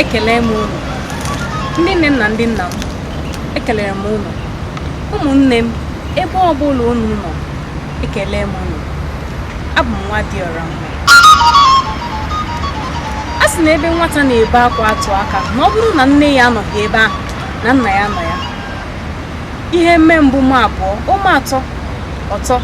ekele m unu ndị nne m na ndị nna m ekelere m unu ụmụnne m ebe ọ bụla unu nọ Ekele m unu. Abụ m nwa dịọra mma. A sị na ebe nwata na-ebe akwa atụ aka ma ọ bụrụ na nne ya anọghị ebe ahụ na nna ya nọ ya. Ihe mee mbụ mee abụọ, o mee atọ, ọ tọ.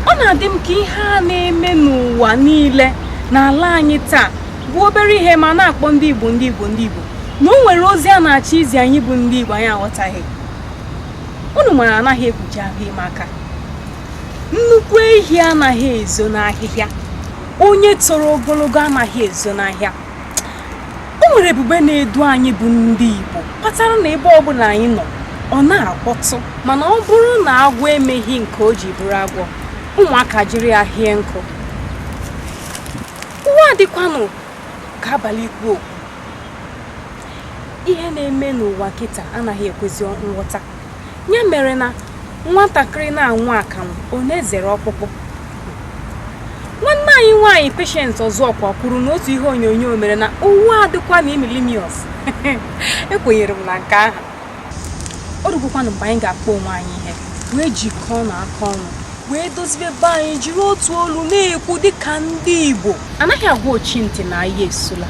Ọ na-adị m ka ihe a na-eme n'ụwa niile n'ala anyị taa bụ obere ihe ma a na-akpọ ndị Igbo ndị Igbo ndị Igbo na o nwere ozi a na-achọ izi anyị bụ ndị Igbo anyị aghọtaghị. unu mara anaghị ekpuchi afọ ime aka nnukwu ehi anaghị ezo n'ahịhịa onye toro ogologo anaghị ezo n'ahịa o nwere ebube na-edu anyị bụ ndị Igbo kpatara na ebe ọbụla anyị nọ ọ na-akpọtụ mana ọ bụrụ na agwọ emeghị nke o ji bụrụ agwọ ụmụaka ejiri ya hie nkụ ụwa a dịkwanụ ka abalị ikwu okwu ihe na-eme n'ụwa kịta anaghị ekwezi nghọta ya mere na nwatakịrị na-aṅụ akamụ ọ na-ezere ọkpụkpụ nwanne anyị nwaanyị Patience Ozokwor kwuru n'otu ihe onyonyo o mere na ụwa a dịkwa na imilimios ekwenyere m na nke ahụ o rugokwanụ mgbe anyị ga-akpọ onwe anyị ihe wee jikọọnụ aka ọnụ wee dozibe be anyị jiri otu olu na-ekwu dịka ndị Igbo anaghị agwa ochi ntị na agha esula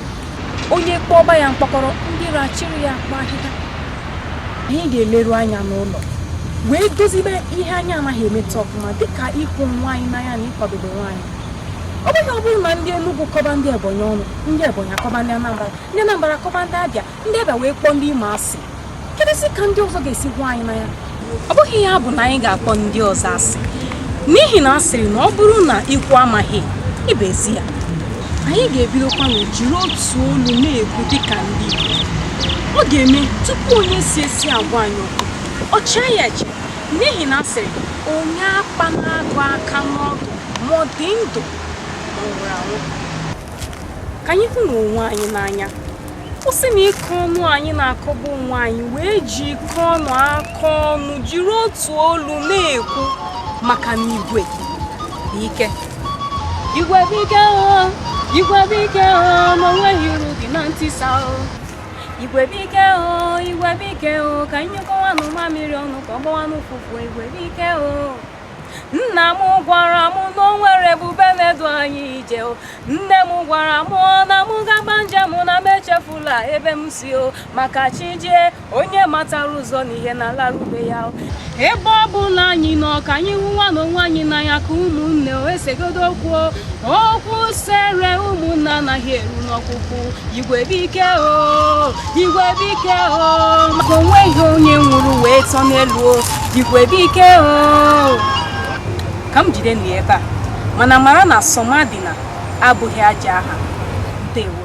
onye kpọọ ọba ya mkpọkọrọ ndị ọra ejiri ya kpoo ahịhịa anyị ga-eleru anya n'ụlọ wee dozibe ihe anyị anaghị emeta ọfụma dịka ịhụ onwe anyị n'anya na ịkwadobe onwe anyị ọ bụghị ọ bụrụ na ndị Enugu kọba ndị Ebonyi ọnụ ndị Ebonyi akọba ndị Anambra ndị Anambra akọba ndị Abịa ndị abịa wee kpọọ ndị imo asị kedụzi ka ndị ọzọ ga-esi hụ anyị n'anya ọ bụghị ya bụ na anyị ga-akpọ ndị ọzọ asị n'ihi na a sịrị na ọ bụrụ na ikwu amaghị ibe ezi ya anyị ga-ebidokwanụ jiri otu olu na-ekwu dịka ndị Igbo ọ ga-eme tupu onye si ezi agwa anyị okwu o chee ya eche n'ihi na a sịrị onye akpana agụ aka n'ọdụ ma ọ dị ndụ ma ọ nwụrụ anwụ ka anyị hụnụ onwe anyị n'anya kwụsịnụ ịkọ ọnụ anyị na-akọbu onwe anyị wee jikọọnụ aka ọnụ jiri otu olu na-ekwu maka na igwe bụ ike igwe bụ ike o igwe bụ ike o ma o nweghị uru dị na ntisa o igwe bụ ike o igwe bụ ike o ka anyị nyụkọwanụ mamịrị ọnụ ka ọ gbawanụ ụfụfụ igwe bụ ike o nna m gwara m na o nwere ebube na-edu anyị ije o nne m gwara m na m gaba njem na m echefula ebe m si o maka chi jie onye matara ụzọ n'ihe na-alaru be ya o ebe ọ bụla anyị nọ ka anyị hụwanụ onwe anyị n'anya ka ụmụnne o esegodu okwu o okwu sere ụmụnna anaghị eru n'ọkpụkpụ igwe bụ ike o igwe bụ ike o maka o nweghị onye nwụrụ wee tọ n'elu o igwe bụ ike o ka m jidenụ ya ebe a mana mara na somadịna abụghị ajọ aha ndewo